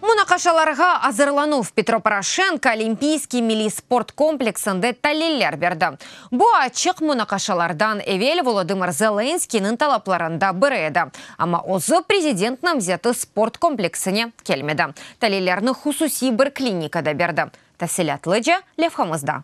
Munaqaşalarğa azırlanuv Petro Poroşenko Olimpiyskiy milliy sport kompleksinde taliller berdi. Bu açıq munaqaşalardan evel Volodımır Zelenskiyniñ talaplarında biri edi, amma özü prezident namzeti sport kompleksine kelmedi, talillerni hususiy bir klinikada berdi, tafsilâtlıca levhamızda.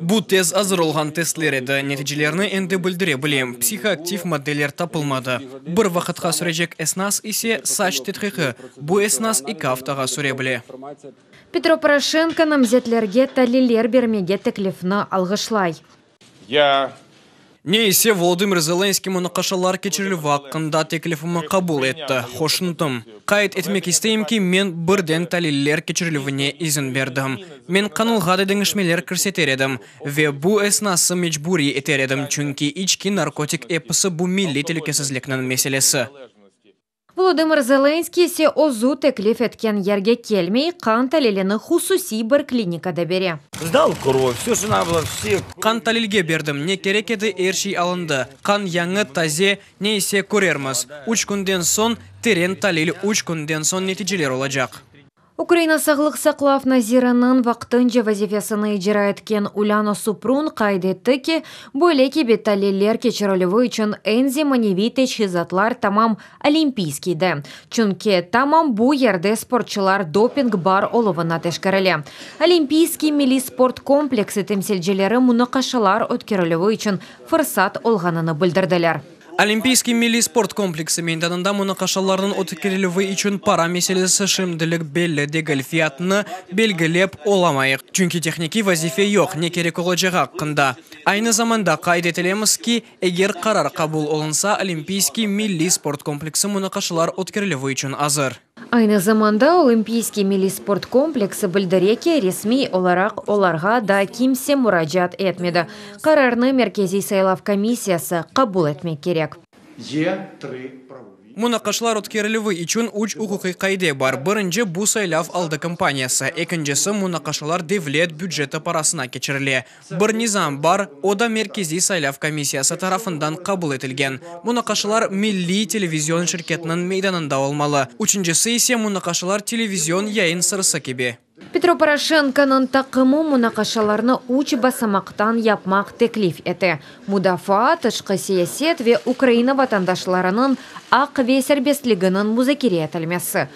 Bu tez azır olğan testler edi, neticelerni endi bildire bilem, psihoaktiv maddeler tapılmadı. Bir vaqıtqa sürecek esnas ise, saç tedqiqi, bu esnas eki aftağa süre bile. Petro Poroşenko namzetlerge taliller bermege teklifni alğışlay. Ne ise, Volodımır Zelenskıy munaqaşalar keçirilüvi aqqında teklifimi qabul etti, hoşnutum. Qayd etmek isteyim ki, men birden taliller keçirilüvine izin berdim. Men qanunğa da deñişmeler kirseter edim ve bu esnası mecburiy eter edim, çünki içki narkotik episi bu milliy telükesizlikniñ meselesi. Volodımır Zelenskıy ise özü teklif etken yerge kelmey, qan talilini hususiy bir klinikada bere. Qan talilge berdim, ne kerek edi, er şey alındı. Qan yañı, taze, ne ise körermiz. Üç künden soñ, teren talil, üç künden soñ neticeler olacaq. Ukraina sağlıq saqlav naziriniñ vaqtınca vazifesini icra etken Ulâna Suprun qayd etti ki, böyle kibi taliller keçirilüvi içün eñ zemaneviy teçhizatlar tamam Olimpiyskiyde, çünki tamam bu yerde sportçılar doping bar oluvına teşkerile. Olimpiyskiy milliy sport kompleksi temsilcileri munaqaşalar ötkerilüvi içün fırsat olğanını bildirdiler. Olimpiyskiy milliy sport kompleksi meydanında munaqaşalarnıñ ötkerilüvi içün para meselesi şimdilik belli degil, fiyatını belgilep olamayıq, çünki tehnikiy vazife yoq, ne kerek olacağı aqqında. Aynı zamanda qayd etilemiz ki, eger qarar qabul olunsa, Olimpiyskiy milliy sport kompleksi munaqaşalar ötkerilüvi içün azır. Aynı zamanda Olimpiyskiy milliy sport kompleksi bildire ki, resmiy olaraq olarğa daa kimse muracaat etmedi, qararnı Merkeziy saylav komissiyası qabul etmek kerek. Munaqaşlar ötkerilüvi içün üç uquqiy qaide bar, birinci, bu saylav aldı kampaniyası, ekincisi, munaqaşalar devlet büceti parasına keçirile, Bir nizam bar, o da Merkeziy saylav komissiyası tarafından qabul etilgen, munaqaşalar milliy televizion şirketiniñ meydanında olmalı, üçüncisi ise munaqaşalar televizion yayın sırası kibi. Petro Poroşenkonıñ taqımı munaqaşalarnı üç basamaqtan yapmaq teklif ete, mudafaa, tışqı siyaset ve Ukraina vatandaşlarınıñ aq ve serbestliginiñ muzakere etilmesi.